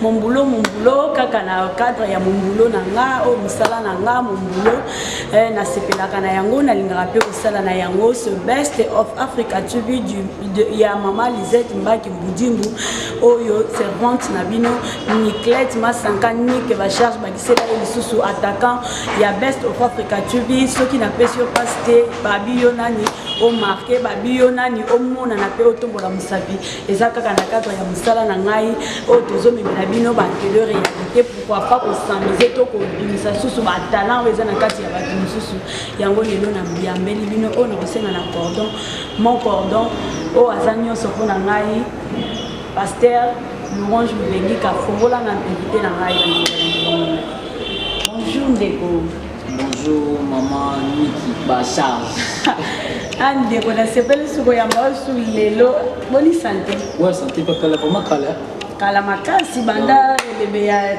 mon boulot mon boulot kaka na cadre ya mon boulot na nga oyo oh, mosala na nga mon boulot eh, nasepelaka na yango nalingaka mpe kosala na yango ce best of africa tv ya mama lisette mbaki mbudimbu oyo oh, servante na bino niclette masanka nike bacharge bakisela ye lisusu attaquant ya best of africa tv soki napesi yo mpasi te babi yo nani omarke babi yo nani omonana mpe otombola mosapi eza kaka na cadre ya mosala na ngai oyo tozomemela bino batele réalité pourquoi pas kosamise to kobimisa susu batalant oyo eza na kati ya bato mosusu yango lelo na yambeli bino oyo nakosenga na cordon mon cordon oyo aza nyonso mpo na ngai Pasteur Louange Mubengika fongola na invité na ngai Bonjour ndeko. Bonjour maman Niki Bachar. ah ndeko nasepeli soko ya maosu lelo boni sante? Ouais sante pe kala vraiment kala. Kala makasi banda elebe ya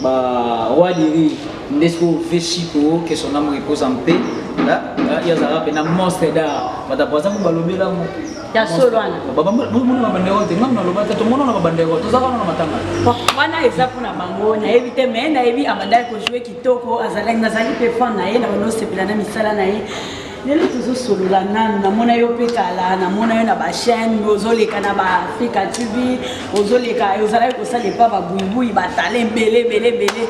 Ba roi du rire nde sikoyo vie chico que son âme repose en paix ye azalaka mpe na monstre d'art batapo aza kobalobela ngo ya solo wana bomona babandeko te ngai naloba te tomona na babandeko toza wana na matanga wana eza mpo na bango nayebi te mai nayebi abandaki kojoue kitoko azalaki nazali mpe fan na ye na banosepela na misala na ye lelo tozosolola nanu namona yo mpe kala namona yo na bachaine ozoleka na baafrika tv ozoleka ozalaki kosala epa babuibui batala ebele ebele ebele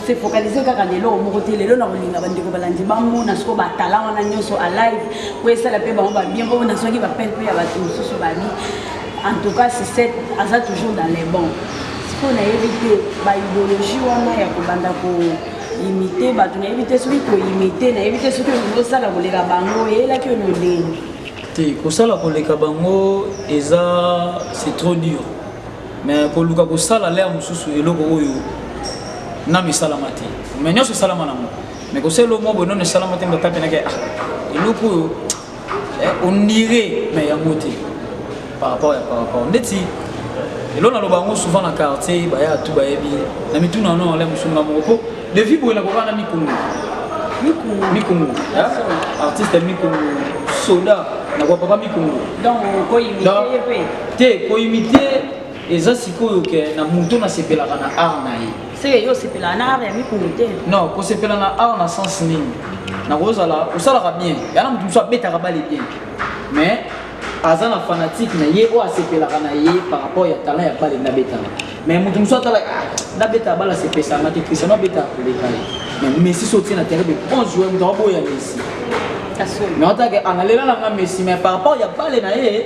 se focalise kaka na eloko moko te lelo nakolinga bandeko balandi bamona soko batala wana nyonso alive po esala mpe bango babien po nazwaki bapele mpe ya bato mosusu babi en tout cas sisete aza toujours dans les bon sikoyo nayebi te baideologie wana ya kobanda ko imite bato nayebi te soki koimite nayebi te soki olingi osala koleka bango eyelaki yo noleni te kosala koleka bango eza c'est trop dur mais koluka kosala lea mosusu eloko oyo nanu esalama te mais nyonso esalama nango mais kosala eloko moko boye nano esalama te mbatapenake ah, eloko oyo eh, on dirait mais yango te par rapport ya par rapport ndeti elo naloba yango souvent na quartier baya tu bayebi na mituna no ole mosunga moko po devi boye nakoka na mikungu mikungu artiste mikungu soda nakoka papa mikungu te koimite eza sikoyo ke na moto nasepelaka na art na ye seke yo osepelaka na art ya mikulu te non kosepela na art na sens nini nakozala osalaka bien yana moto mosusu abetaka bale bien mais aza na fanatique na ye oyo asepelaka na ye par rapport ya talent ya bale nabetaka mais moto mosusu atala ah, nabeta bale asepesanga te cristiano abetaka koleka ye mais messi so otie na terrain de bon joueur moto akoboya messi mais otake analela nanga messi mais par rapport ya bale na ye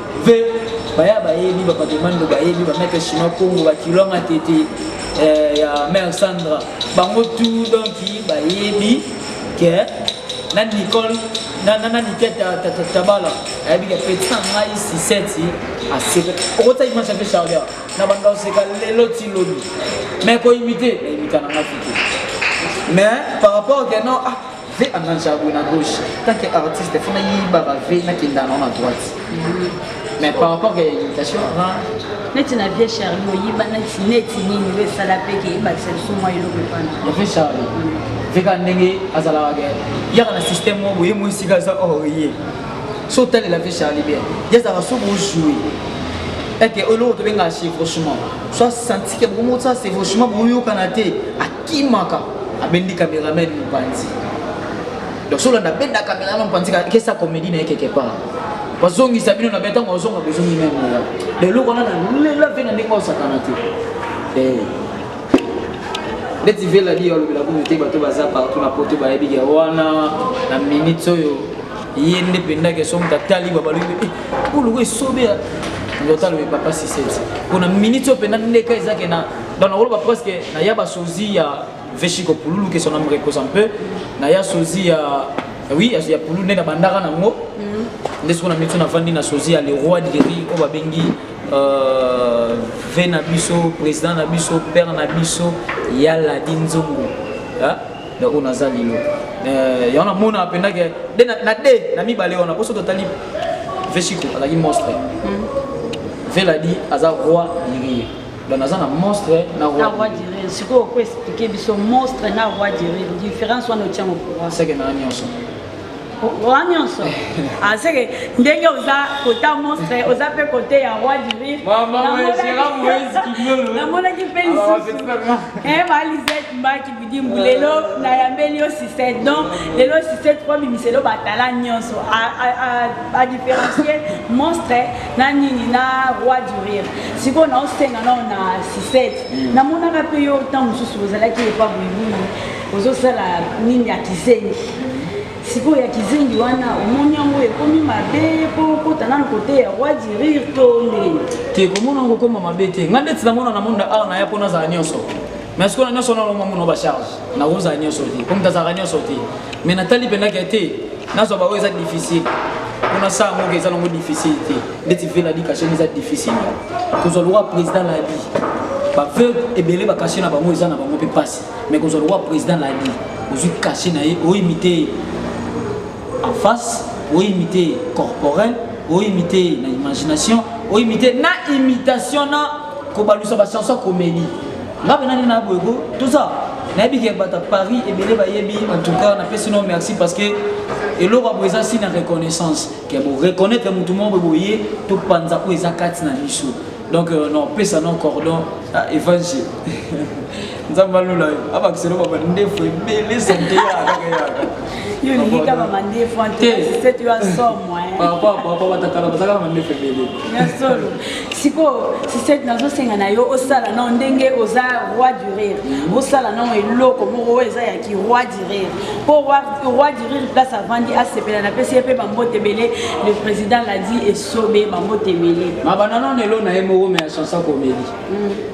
mpe baya bayebi bapakemando bayebi bameke chinois congo bakilwanga tete eh, ya mare sandra bango tu donki bayebi ke na nicole na niketa tabala ayebi ke petit na ngai siseti aseka okota image ya mpe charger na banda oseka lelo ti lobi mai koimite na imita na ngai fite mais par rapport ke non ah ve ananja boye na gauche tanke artiste fo nayibaka ve nakenda nao na droite mais par rapport ya imitation neti na vie charli oyiba neti neti nini oyo esala mpe ke ebakisa biso mwa eloko epana vie charli ve kaka ndenge azalaka ke yaka na système moko boye mo esika aza or ye so otalela vie charli bien ye azalaka so bojoue ete eloko tobengaka chevauchement so asanti ke bokomotsa chevauchement boyokana te kimaka abendi cameraman mopanzi donc soki olanda abenda cameraman mopanzi kesa comédie na ye quelque part bazongisa bino na be ntango bazonga bozongi meme oya lelo wana nalela mpe na ndenge osakana te eh. ndeti vela liyo alobela kumu te bato baza partout na poto bayebi ya wana na minute oyo ye nde mpenza ke soki moto atali babalobi eh, oluka esobe ya ndoto alobi papa sisete mpona minute oyo mpenza ndeka ezake na Donc nakoloba presque naya basozi ya veshiko pululu que son âme repose un peu naya sozi ya oui ya pululu nde nabandaka nango mhm. nde soki na miti navandi na sozi ya le roi de rire oyo babengi euh, ve na biso président na biso père na biso ya ladi nzongo donc oyo naza lelo euh, yango namonaka mpenza ke de na de na mibale wana mpo so totali veshiko azalaki monstre mhm. veladi aza roi de rire donc naza na monstre na roi direl sikoyo oko explike biso monstre na roi direl différence wana otiango pourquoi seke na nyonso wa nyonso aseke ah, ndenge oza kota monstre oza mpe kote ya roi du rire namonaki mpe lisusu balisete mbaki bidi mbu lelo nayambeli yo sisete donc lelo sisete mpo bimiselo batala nyonso a différencie monstre na nini na roi du rire sikoyo naosenga nao na sisete mm. namonaka mpe yo ntango mosusu ozalaki epa boyibuni ozosala nini ya kizengi sikoyo ya kizengi wana omoni yango ekomi mabe mpo okota nano kote ya roi du rire to ndenge te komona yango okoma mabe te ngai ndeti namona na monde awa naya mpo nazala nyonso mais sikoyo na nyonso wana omamona bacharge nakozala nyonso te po moto azalaka nyonso te mais natali mpenza ke te nazwa baoyo eza difficile mpona saa moko eza nango difficile te ndeti ve na dikasheni eza difficile kozwa lokwa président na bi baveu ebele bakashe na bango eza na bango mpe mpasi mais kozwa lokwa président na bi ozwi kashe na ye oimite ye en face oimite ye corporel oimite ye na imagination oimite na imitation na kobalusa bachanson komeli nga pena nini naboye ko toza nayebi ke bata paris ebele bayebi en tout cas napesi no merci parce que eloko yango eza si na reconnaissance ke boreconnaitre motu moko boye topanza oyo eza kati na biso donc euh, nopesa no cordon ah, evangile nzambe alula yo abakisa eloko ya bandefu ebele sante sikoyo sisete nazosenga na yo osala nao ndenge oza roi du rire mm. osala nao eloko moko oyo eza ya ki roi du rire mpo roi du rire place avandi asepela na pesi ye mpe bambote ebele le président ladi esobe bambote ebele mabananonelo na ye moko me ya chansa komeli mm.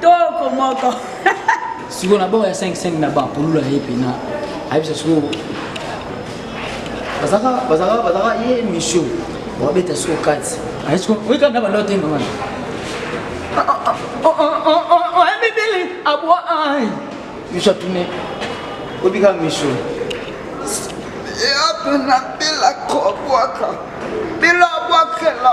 toko moko sikoyo na bango ya 55 na bango polula ye mpena ayebisa sikoyo bazaka bazaka bazaka ye mission babeta sikoyo kati aye sikoyo oyekana na banda otenga wana oyebibili abwa ai miso atune obika miso eape na bila kobwaka bila abwakela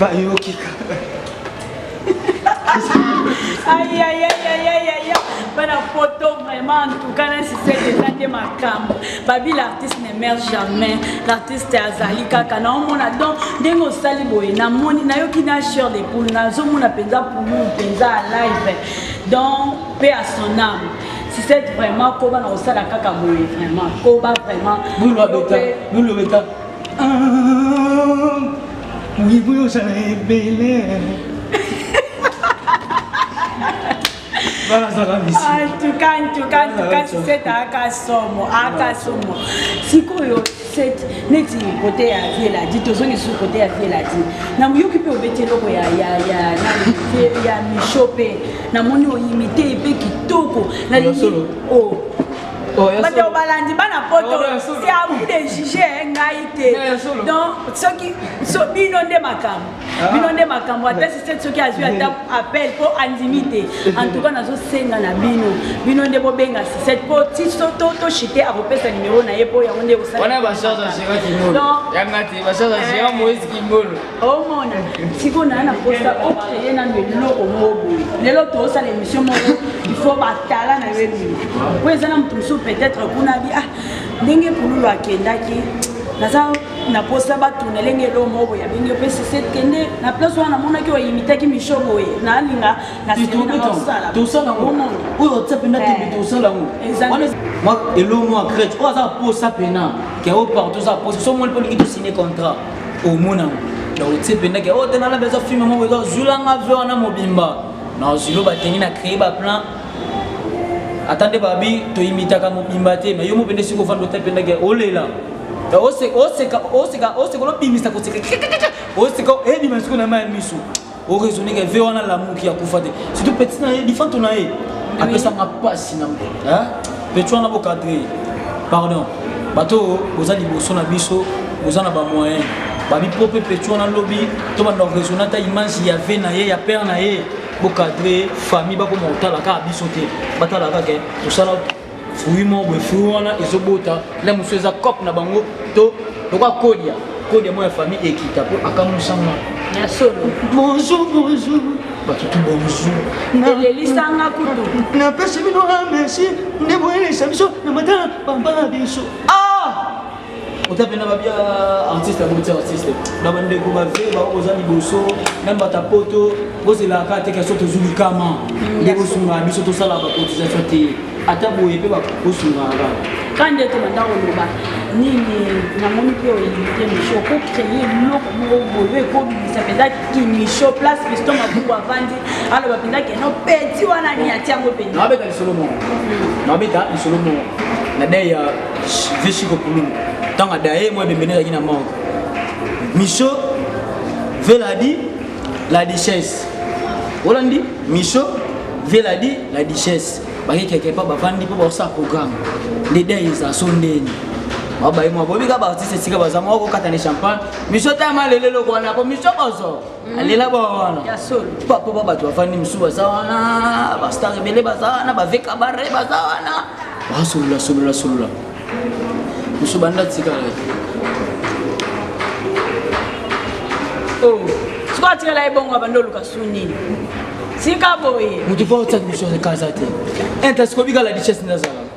bayoki bana poto vraiment en tout cas nasisete eza nde makambo babi l'artiste ne mère jamais l'artiste azali kaka naomona donc ndenge osali boye namoni nayoki na chere de poule nazomona mpenza pulu mpenza a live donc mpe à son âme sisete vraiment koba na kosala kaka boye vraiment koba vraiment Buyibuyi ozala ebele. En tout cas, en tout cas, en tout cas, tu sais, t'as qu'à somo, à qu'à somo. Si quoi, cette neti côté à vie là dit, tous on est sur côté à vie là dit. N'a mieux que pour bêter l'eau, ya ya ya, ya mi chopé, n'a mon imité, et puis qui toko, n'a dit, oh. bato balandi bana poto c'est à vous de juger ngai te donc soki bino nde makambo ah. bino nde makambo ata sisete soki azwi ata appel mpo andimi te en tout cas nazosenga na bino bino nde bobenga sisete mpo ti toshite akopesa nimero na ye mpo yango nde ekosala omona sikoyo naye na posa okreye nano eloko moko boye lelo toosala émission moko ifo batala na yo ebima po eza na moto mosusu peut-être kuna bi ah ndenge kululu akendaki naza na posa batuna elenge elo moko boye abenge mpe sisete kende na place wana namonaki oyimitaki misho boye nalinga nasenaosalaaomona oyo otya mpena tembe tosala yango elo mwa crete oyo aza posa mpena ke o partout oza posa so omoni mpo olingi tosine contrat omona otie mpendaki o te nalabi eza filme moko eza zulanga ve wana mobimba nazwi loba tengi na créer baplan ata nde babi toyimitaka mobimba te me yo mo mpende soki ofanda ota mpendaki olela oseka olobimisa koseka oseka ebima siko na ma ya miso oraisonne ke ve wana lamuki akufa te surtout petit na ye lifanto na ye apesanga mpasi na petit wana bokadre ye pardon bato oyo boza liboso na biso boza na bamoyen babipo mpe petit wana lobi to banda oraisonne ata image ya ve na ye ya père na ye bokadre famille bakoma kotala kaka biso te batala kaka tosala fruit moko boye fruit wana ezobota na mosusu eza cope na bango to lokola kodia kodia moko ya famille ekita mpo akamusanga ya solo bonjour bonjour batutu bonjour elelisanga kutu napesi bino amesi nde boyelisa biso na matala bambala biso ah! oza mpena babia artiste ya boti artiste na bandeko bave bao boza liboso na mbata poto bozelaka te kasi tozwi likama mm, nde bosungaka biso tosala bacotisation te ata boye mpe bosungaka ka nde tobanda koloba nini namoni mpe oyinite misho okocreye eloko moko boye ekobimisa mpenza kimisho place pisto mabuku avandi aloba mpenza keno peti wana nini atiango mpenza nabeta lisolo moko nabeta lisolo moko na dei ya vieux chico kululu ntango adaye mwa ebembeni ezalaki na mango micho veladi la duchesse olandi micho veladi la duchesse bakekeke mpo bavandi mpo bakosala programme nde dai eza so ndeni babaye mwa bobika baartiste esika baza mwa kokatana champagne micho tayama lelo eloko wana mpo micho bozo Mhm. alela ba wana papa ba bato bafandi mosusu baza wana bastar ebele baza wana baveka bare baza wana basolola solola solola mosusu banda tikala oh. sikoyo atikala ye bongo abanda oluka su nini tika boye moto mpo otaki mosusu akaza te intasiko bikala richesse nazala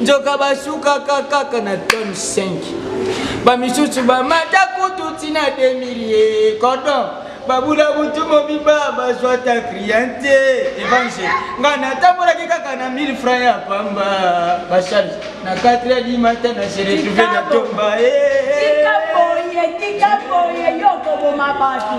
nzoka basukaka kaka na tone 5 bamisusu bamata kutu ntina 2000 cordon babula butu mobimba bazwa ta kriante evangile ngai natambolaki kaka na 1000 franc ya pamba bacharge na 4 ya limata na se retrouve na tomba tikabooye yo okoboma bato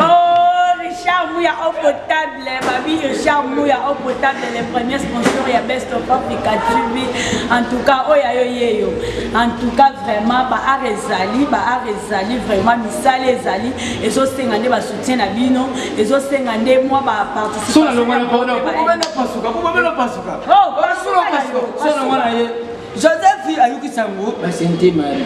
oh, richard muya okotabi Les babi de charme ya eau potable les premiers sponsors ya Best of Africa TV en tout cas oyo ayo yeyo en tout cas vraiment ba art ezali ba art ezali vraiment misala ezali ezosenga nde ba soutien na bino ezosenga nde mwa ba participation na bango. Sona longwa na pona, kubabela pasuka, kubabela pasuka. Oh, pasuka, pasuka, sona longwa na ye. joseph ayuki sango ba sainte marie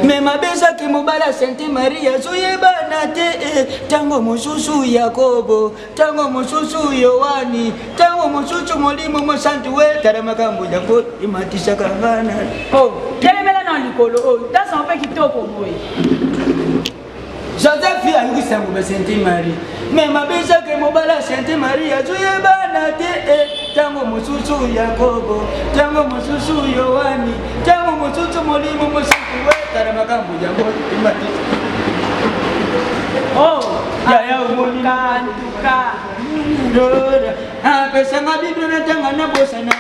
me mabe ezaki mobala sainte marie azoyebana te eh, ntango mosusu yakobo ntango mosusu yoani ntango mosusu molimo mosantu wetala makambo yango ematisaka ngana oh, telemela na likolo oyo oh, tasama mpe kitoko boye Joseph ayokisa ngo ba Sainte Marie me mabe ezake mobala Sainte Marie azoyebana te e ntango mosusu Yakobo ntango mosusu Yohani ntango mosusu molimo mosusu wetala makambo yango emati oh, yaya omoni apesanga biblia natanga nabosana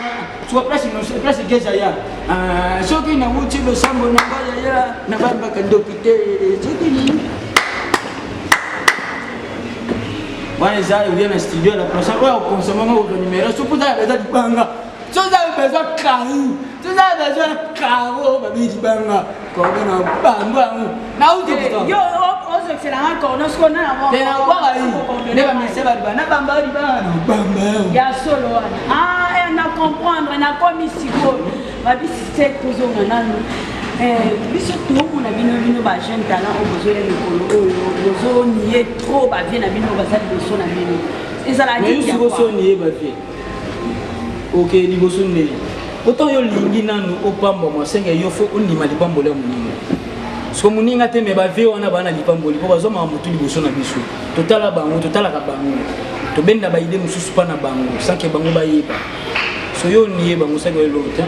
Soit place innocent, place Gezaya. Ah, soki na wuti losambo na ngai ya ya na bambaka ndoki te. Soki nini? Wana eza oye na studio na prochain oyo okonsoma ngo ko numero soki oza na besoin libanga. Soki oza na besoin carreau. Soki oza na besoin carreau babi libanga. Cordo na bango yango. Na uti eh, kutoka. Yo ozokisela nga cordo siko na yango. Te na kwaka yi. Nde ba mese ba liba. Na bamba yo liba. Na bamba yo. Ya solo wana. Ah, eh, na comprendre, na komi sikoyo. Babisi sek tozonga nanu. Eh, biso toomona bino bino ba jeune talent oyo bozoya mikolo oyo bozoniye trop bavie na bino baza liboso na bino ezalaki sikoso niye bavie Ok, liboso nde pourtant yo lingi nanu opambwama osenge yo fo ondima lipamboli ya moninga soko moninga te me bavie wana baa na lipamboli mpo bazwa makambo tu liboso na biso totala bango totalaka bango tobenda baide mosusu mpa na bango sanke bango bayeba so yo onie bango sanke oyeba te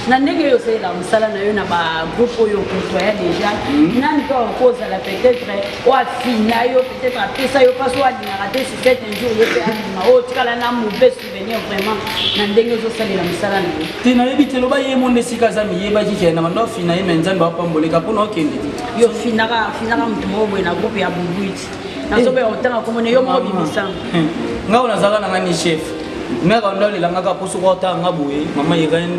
na ndenge oyo osalelaka mosala na yo na bagroupe oyo okotoya déjà hmm. nani mpe okozala peut-être oafina yo peut-être apesa yo mpasi oyo alingaka te sur cet un jour yo mpe alima oyo otikala na mauvais souvenir vraiment na ndenge ozosalela mosala na yo te nayebi te loba ye monde esika aza miyebaki kende na bando afina ye me nzambe apamboleka mpona okende te yo finaka finaka moto moko boye na groupe ya bubuiti nazobela kotanga komona yo moko bimisanga nga oyo nazalaka na nga ni chef meka onda olelangaka mpo soki otanga nga boye mama irene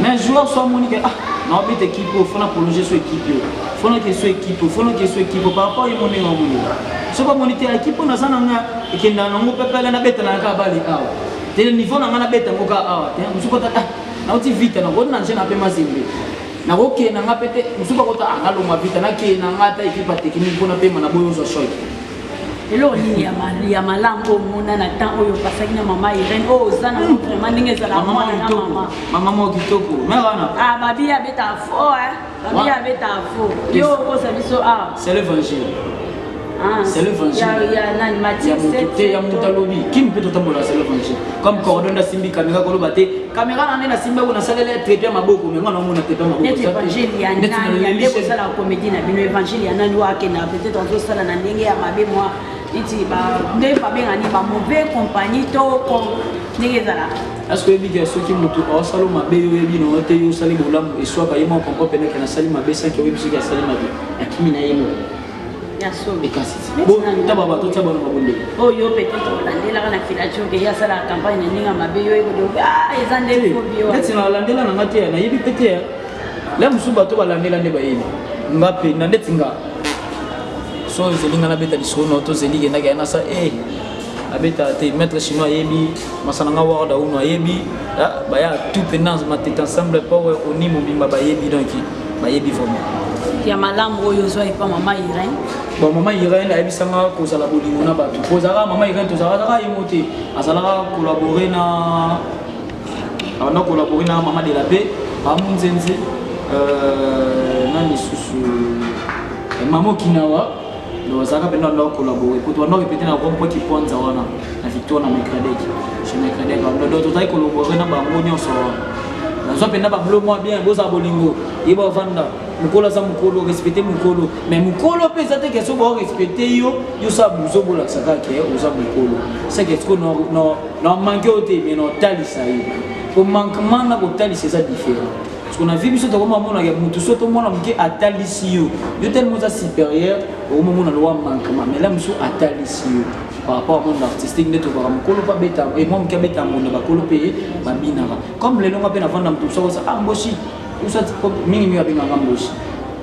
mais joueur so amoni ke ah naobeta ekipe oyo fona prolonge so ekipe oyo fona ke so ekipe oyo fona ke so ekipe oyo par rapport ye monenge amoni soki amoni te ekipe oyo naza na nga ekendana nango pepele nabetana kaka bale awa te niveau na nga nabeta yango kaka awa te mosusu kota ah nauti vita nakoti na nje na mpe mazembe nakokee na nga mpe te mosusu bakota ah nalongwa vita nakee na nga ata ekipe ya teknike mpona mpema na boyo ozwa shoke eloko nini ya malamu oyo omona na temps oyo opasaki na mama irene oyo oza na hmm. vraiment ndenge ezala mwana na mama mama moko kitoko me wana ah, babi abetaka fo babi abetaka fo yo okosa biso awa ah. c'est l'évangile ah, c'est l'évangile ya moto te ya moto alobi kimi mpe totambola c'est l'évangile comme cordon asimbi kamera koloba te Kamera na nene simba kuna salela ya traitement maboko mais ngana mona traitement maboko. Net evangile ya nani ya ndeko sala comédie na bino evangile ya nani wa kenda peut-être on doit sala na ndenge ya mabe moi neti ba nde ba benga ni ba mauvais compagnie to ko ndenge ezala. Est-ce que ebi ke soki mutu o sala mabe yo yebi no te yo sali bolamu eswaka yema konko pene kana sali mabe sanki oyebi soki asali mabe. Akimi na yemo. taba bato tya bano babondeli oyo peut-être olandelaka na filacoke ye asalaka campagne na ndenge mabe yo ekodoki ah, eza nde neti nalandela na nga te nayebi mpe te la mosusu bato balandela nde bayebi nga mpe na ndeti nga so ezeli nga nabeta lisolo na yo tozeli kendaki yanasa e eh, abeta te maître chinois ayebi masana nga ward auno ayebi ah, baya tout pendance matete ensemble power oni mobimba bayebi donc bayebi vraiment ya malamu oyo ozwa epa mama irene bon mama irene ayebisanga kozala bolingo na bato po ozalaka mama irene tozalaka ye mo te azalaka collabore na abanda collabore na mama de la paix bamunzenze euh, na lisusu eh, mama okinawa Donc azalaka mpenza ndo akolabore kutu wana répété na rond point kiponza wana na victoire na micradec chez micradec donc tozali kolabore na bango nyonso wana nazwa mpenza bablo mwa bien bozala bolingo ye bavanda mokolo aza mokolo respecte mokolo mais mokolo mpe eza te ke soki baorespecte yo yosala buzo bolakisa kaka ke oza mokolo seke siko na manke yo te mais na otalisa yo po mankement na kotalisa eza différent Parce qu'on a vu biso toko mamona ya mutu soto mwana muke atalisi yo. Yo tellement oza supérieur, au moment na loi manquement. Mais là musu atalisi yo par rapport à monde artistique nde tokaka mokolo mpe abeta e mwa moke abeta mbunda bakolo mpe babinaka comme lelo nga mpe navanda moto mosusu akosa ah mboshi usati mingi mingi abengaka mboshi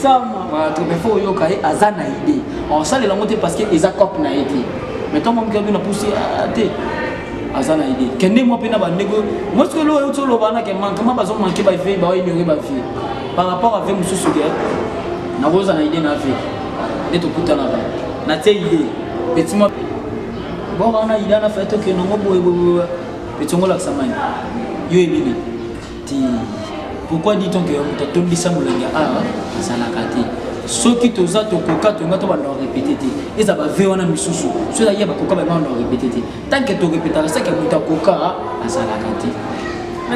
Voilà, tu me faut yoka ye aza na idée. On sale la montée parce que eza cop na été. Mais toi mon cœur na poussé à té. Aza na idée. Kende moi pena ba nego. Moi ce que lo yo lo bana ke manquement bazo manquer ba vie ba ignorer ba vie. Par rapport avec monsieur Sugar, na rosa na idée na vie. Et tout kuta na ba. Na té idée. Petit moi Bon on a idée na fait que non boy boy. Petit on la samani. Yo ebini. pourquoi dit-on que moto atondisa molangi ya awa azalaka te soki toza tokoka tonga to banda korepete te eza bave wana misusu soki eza ye bakoka bango banda korepete te tanke torepetaka seke moto akoka azalaka te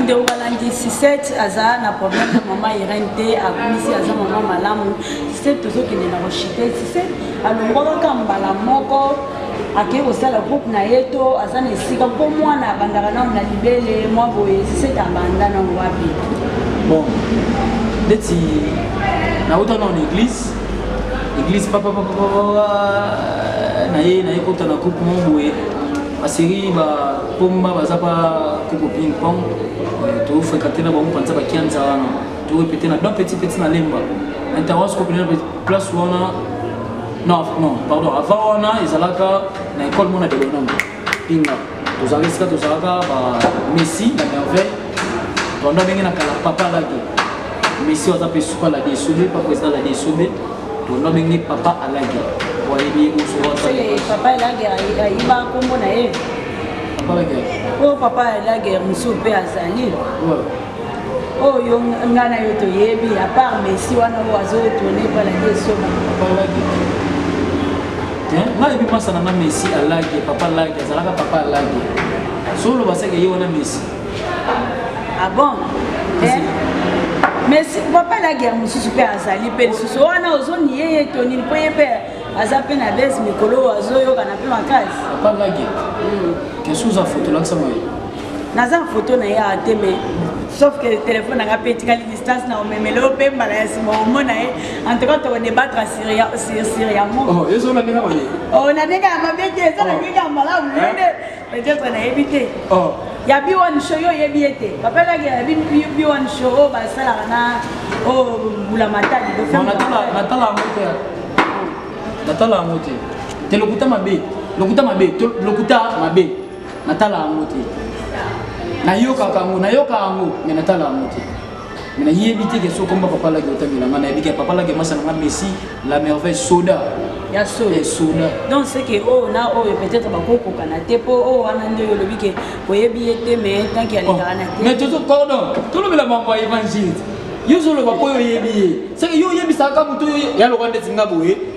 ndeko balandi sisete aza na problème na mama irene te akumisi aza mama malamu sisete tozokende na rochite sisete alongwaka kaka mbala moko akei kosala groupe na ye to aza na esika mpo mwana abandaka nano na libele mwa boye sisete abanda nano wapi bon neti nauta nano na église église papapapapapa na ye na ye kota na groupe mwa boye baserie bapomba baza pa koko ping pong euh, tofréquente na bango mpanza bakianza wana torepete na don petit petit na lemba intervention kopelena place wana Non, non, pardon, avant wana ezalaka na école mona de l'homme. Pinga. Tozalaka esika tozalaka ba Messi na merveille. Tonda benge na kala papa laki. Messi waza pe suka la desombe, pas président la desombe. Tonda benge papa alaki. Wayebi uso waza. Papa alaki ayiba kombo na ye. Papa alaki. Oh papa alaki musu pe azali. Ouais. oyo nga na yo toyebi à part messi wana oyo azotourne mpona te soba ngai ebi masa na nga messi alage papa alage azalaka papa alage soloba seke ye wana messi ah bon mais papa alage ya mosusu mpe azali mpe lisusu wana ozoniye ye to nini mpo ye mpe aza mpe na bese mikolo oyo azoyokana mpe makasi papa alage hmm. kesuza foto olakisa moye naza na foto na ye awa te mais sauf que telefone nanga mpe etikali distance na omemele oyo mpe mbala ya nsima omona ye en tout cas tokodebattre sur yango oh, ezola ndenge mabe o oh, na ndenge ya mabe te eza na oh. ndenge ya malamu nende peut-être nayebi te ya b1 show yo oyebi ye te papa elaki ya b1 show oyo basalaka na oyo mbula matali natala yango te natala yango te te lokuta mabe lokuta mabe lokuta mabe natala yango te nayokaka yango nayoka yango me natala yango te me nayebi te ke soki komba papa laki otamela nga nayebi ke papa laki masa na nga messi la merveille soda ya soda soda donc c'est que oyo oh, na oyo oh, peut-être bakokokana te mpo oyo oh, wana nde olobi ke oyebi ye te me tanki alekaka na te mais tozo cordon tolobela mambo ya évangile yo ozoloba mpo yo oyebi ye seke yo oyebisaka moto ya loka ndeti nga boye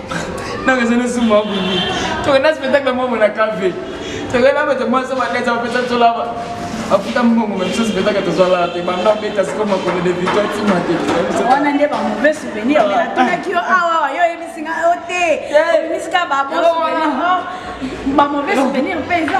donc ezali osu mwa boye tokenda spectacle moko na cave tokenda bato mwasi baneza bapesa biso lava afuta mbongo me biso spectacle tozwala te banda beta siko makolo de victoire tima te wana nde bamauvais souvenir me natunaki yo awawa yo oyebisi nga yo te oyebisi ka babon souvenir bamauvais souvenir mpe eza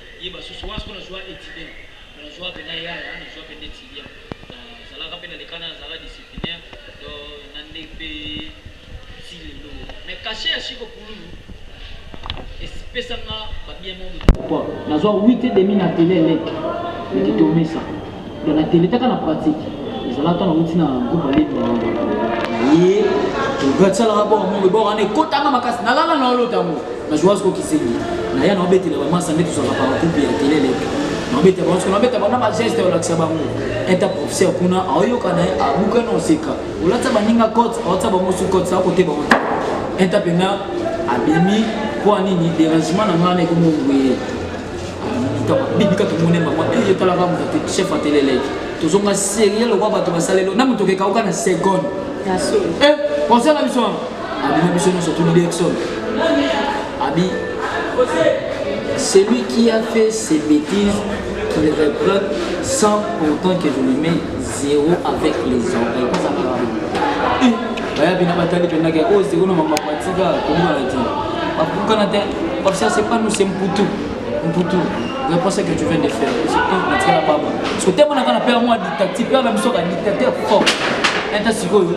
ye basusu wana sikoyo nazua etidien mais nazua pe na yaya nazua pe nde tilia nazalaka pe na leka naye azalaka disciplinaire do na nde pe ti lelo mais cachet ya chico pululu epesanga ba bien moko nazua 8 et demi na tele eleki ekitomisa Mais na tele kaka na pratique. Ezala ata nauti na groupe ya leki na ngai. Ye, ogatsala ba bongo bongo bongo ane kotanga makasi na lala na olota mo. Na joie ko kisengi. Na ya na obetela ba masa ndetu zaka par groupe ya tele leki. Na obeta ba nsola beta ba na ba geste ya lakisa bango. Eta professeur kuna ayoka na abuka na oseka. Olatsa baninga cote, otsa bango su cote sa kote bango. Eta pena abimi kwa nini derangement na ngana ikomo ngwe bibika tomone mama e eh, etalaka moto te chef ateleleki tozonga serie lokwa bato basalelo na moto okekauka na seconde eh, conseil na biso wana abima biso nyonso tuni direction abi celui qui a fait ses bêtises qu'il reprenne sans pourtant que je lui mets zéro avec les oreilles bayabi na batali mpendaka oyo oh, zero na mama patika komona te bakukana te parce que c'est pas nous c'est mputu mputu reproche que tu viens de faire surtout natikala baba parce que temo nanga na pere mwa dictative pere na biso ka dictateur fort enta sikoyo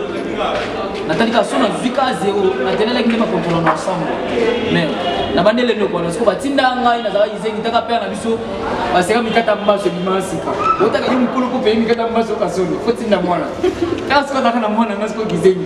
natali ka so nazwi ka zero natelelaki nde bakontola na ensemble mais nabandi elendo kwana siko batinda ngai nazalaki izengi taka pere na biso baseka mikata mbaso ebima sika otaka ye mokolo mpo peye mikata mbaso kasolo fo tinda mwana kaka siko azalaka na mwana ngai siko kizengi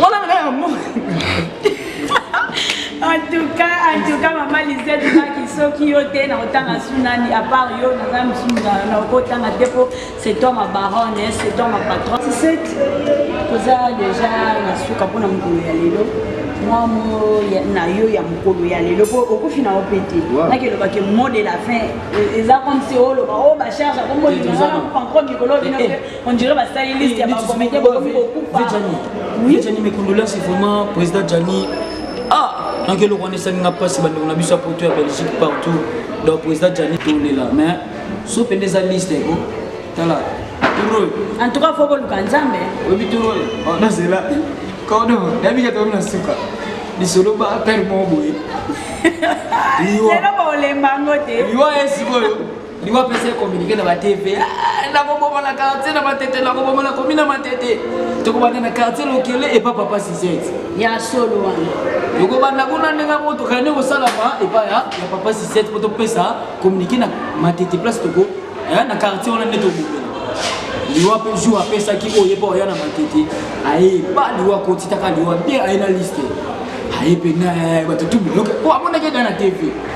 Wana na ya mo. En tout cas, en tout cas, maman Lisette, qui sont qui ont été dans autant à Sunani, à part yo, dans un Sunani, dans autant à dépôt, c'est toi ma baronne, hein, c'est toi ma patronne. Tu sais, vous avez déjà la souka pour nous dire, moi, moi, na yo ya mukolo ya lelo po okofi na opete na ke loba ke mot de la fin eza comme si oloba oh ba charge comme moi je ne sais pas encore mikolo bino On dirait basali liste ya ba comédien bokomi kokufa. Oui. Jani mes condoléances vraiment président Jani. Ah, donc eloko wana esali nga mpasi bandeko na biso ya poto ya belgique partout donc président Jani tolela mais so mpe nde eza liste ko tala turo. En tout cas faut koluka Nzambe. Oyebi turo oyo? Oh, nazela. Kodo, nayebi ke tokomi na suka. Lisolo ba père moko boye. Liwa. Lelo ba olemba ngo te. Liwa ye sikoyo. liwa pesa ye communiqué na ba tv ah, nakoboma na quartier na matete nakoboma na komi na matete tokobanda na quartier lokele epa papa sisete ya solo wana tokobanda kuna ndenge moko tokende kosalama epa ya papa sisete mpo topesa communiqué na matete place toko eh, na quartier wana nde tobomela liwa mpe jour apesaki oyo ye mpo oya na matete aye ba liwa kotitaka liwa mpe aye na liste aye mpe na bato tubuloke po amonaki eda na tv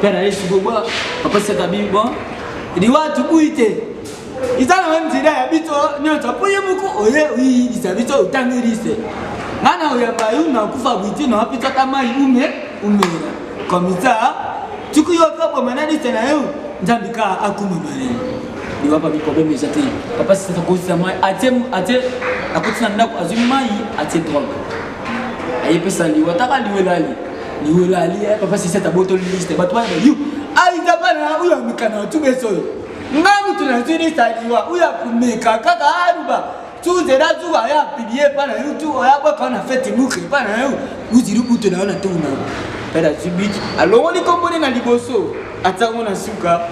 Père Yesu Boba, Papa Sakabi, bon, il dit, ouais, tu bouilles, eza na meme nzela ya biso nyonso mpo ye moko oye oyibisa biso otangi liste nga na oyamba yo nakufa bwiti na wapi tata mai ume umela komisa tuku yo okaboma na liste na yo nzambi ka akumama na liwa papi problème eza te papa sisakosisa mai atie akotina ndako azwi mai atie drogue aye pesa liwa taka liwa elali liwa elali eh, papa sisete abotoli liste bato bana yu aita bana oyo amikana na tubeso oyo nga moto nazwi liste ya liwa oyo akomeka kaka aluba tuzela zuwa aye apilie epa na yo tu oyo abwaka na fete muke epa na yo uzili buto na yo na ntongo na yo mpe nazwi biki alongoli kombone na liboso atango na suka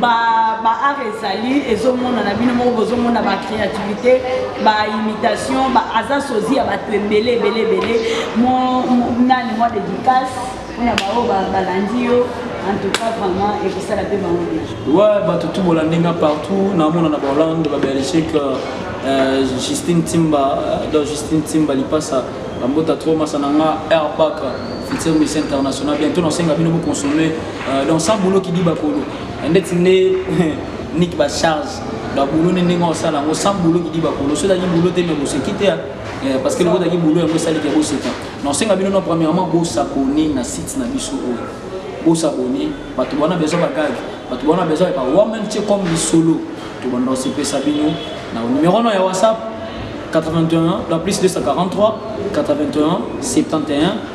ba ba art ezali ezomona na bino moko bozomona ba créativité ba imitation ba aza sozi ya bato ebele ebele ebele mo nani mwa dédicace mpona baoyo balandi yo en tout cas vraiment ekosala mpe bango bien wa bato tu bolandi nga partout namona na bahollande ba belgique euh, justine timba euh, do justine timba lipasa bambota trop masa na nga air park futur miss international bientôt nasenga bino boconsomme Euh, donc sans boulot qui dit bakolo ndeti nde niki bacharge baboulot nde ndenge osala yango sans boulot qui dit bakolo soki ozalaki boulot te me boseki te euh, parce que lokotaki boulot yango esaliki ya boseka nasenga bino no premièrement bosabone na site na biso oyo oh. bosabone bato bona besoin bagage bato bona besoin ya bawamem tie comme lisolo tobanda osepesa bino na numero no ya whatsapp 81 la plus 243 81 71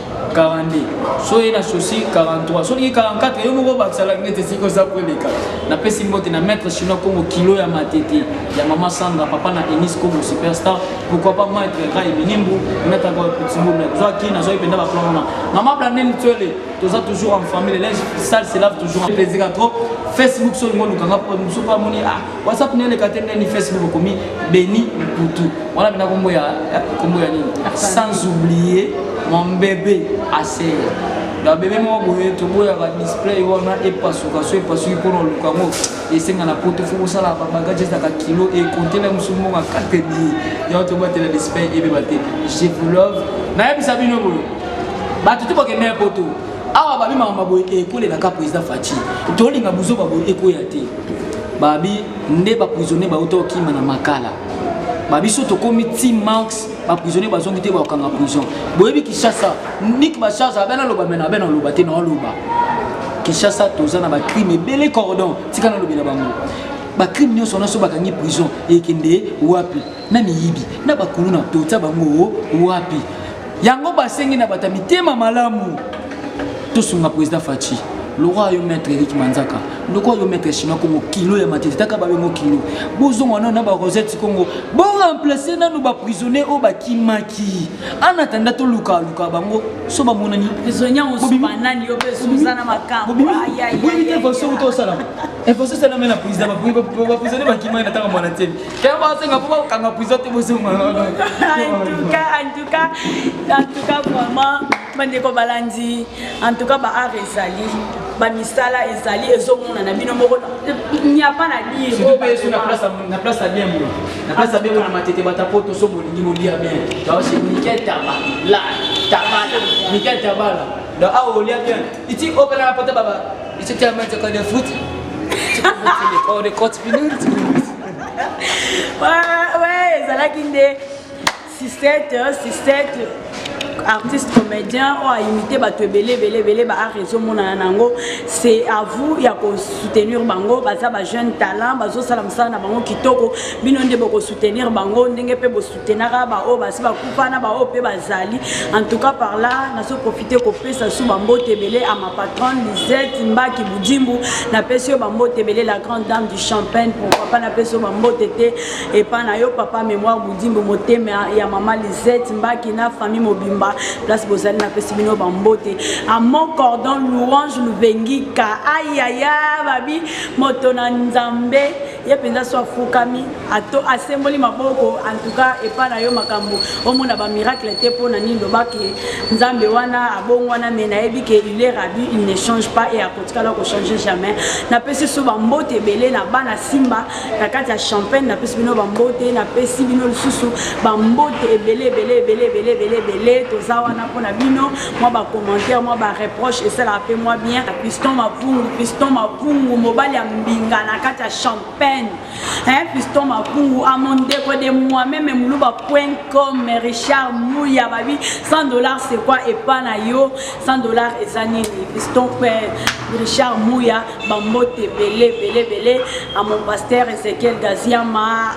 42 so ye na sosi 43 soki 44 yo moko bakisala nete esika oza koleka napesi mbote na maître chinois kongo kilo ya matete ya mama sanga papa na enis kongo superstar pourquoi pas maître rai minimbu nataka pitsimbu na zwa ki nazwaki mpenza baplan wana mama blandine tswele toza toujours en famille linge sale se lave toujours plaisir trop facebook so lingo olukanga mpo mosuku amoni ah whatsapp ne eleka te ndeni facebook okomi beni mputu wana mpena kombo ya eh, kombo ya nini sans oublier mon bebe aseya na bebe moko boye toboyaka display wana epasuka so epasuki mpona oluka yango esenga na poto fo kosala babagage ezalaka kilo ekontela mosu moko akate bie yango tobatela display ebeba te je vous love nayebisa bino boye bato te bakendaya poto awa babi makambo boye ekolelaka président faci tolinga buzoba boye ekoya te babi nde baprisonnier bauta okima na makala babiso tokomi ti marx baprisonnier bazongi te bakokanga prison boyebi kinshasa nik bacharge abe naloba mena abe naloba te naoloba kinshasa toza na bacrime ebele cordon tika nalobela bango bacrime nyonso nyonso bakangi prison ekende wapi na miyibi na bakuluna totia bango wapi yango basengi na bato ya mitema malamu tosunga président faci lokola yo maître erik manzaka lokola yo maître chinois kongo kilo ya matete taka babengo kilo bozonga nano na barosette kongo boremplace nano baprisonnier oyo bakimaki anatanda tolukaluka bango so bamonani bobimitefasoki tosalama efaso esalama na président baprisonnier bakimaki na ntango mwana te Kaya basenga mpo bakanga prison te bozonga antuka antuka antuka vraiment bandeko balandi antuka baart ezali bamisala ezali ezomonana bino moko nyapa na diresurtout na place ya bien mo na place ya bien mo na matete bata po toso bolingi bolia bien baosi mikel taba la tabala mikel tabala donc awa olia bien iti opela na pota baba iti tiamanteka de fruit Oh, the court ezalaki nde sistete euh, sistete artiste comédien oyo aimite bato ebele ebele ebele baart ezomonana na yango c'est à vous ya kosoutenir bango baza bajeune talent bazosala mosala na bango kitoko bino nde bokosoutenir bango ndenge mpe tenaka baoyo basi bakufa na baoyo mpe bazali en tout cas par là nazo profite kopesa su bambote ebele à ma patronne lisette mbaki budimbu napesi yo bambote ebele la grande dame du champagne pour papa napesi yo bambote te epa na yo papa mémoire budimbu motema ya mama lisette mbaki na famille mobimba place bozali napesi bino bambote à mon cordon louange luvengika ayaya babi moto na nzambe ye mpenza so afukami ato asemboli maboko antuka epai na yo makambo omona bamiracle te mpo na nini lobake nzambe wana abongwana me nayebi ke il est rabu il ne change pas e akotikala kochange jamais napesi so bambote ebele na bana simba na kati ya champagne napesi bino bambote napesi bino lisusu bambote ebele ebele ebele ebele ebele ebele toza wana mpo na bino mwa bacommentaire mwa bareproche esalaka mpe mwa bien piston mavungu piston mavungu mobali ya mbinga na kati ya champagne hein, piston mavungu a mon ndeko de moi-meme muluba point com richard muya babi 100 dollars c'est quoi epa na yo 100 dollars eza nini piston pe richard muya bambote ebele ebele ebele a mon pasteur ezekiel gaziama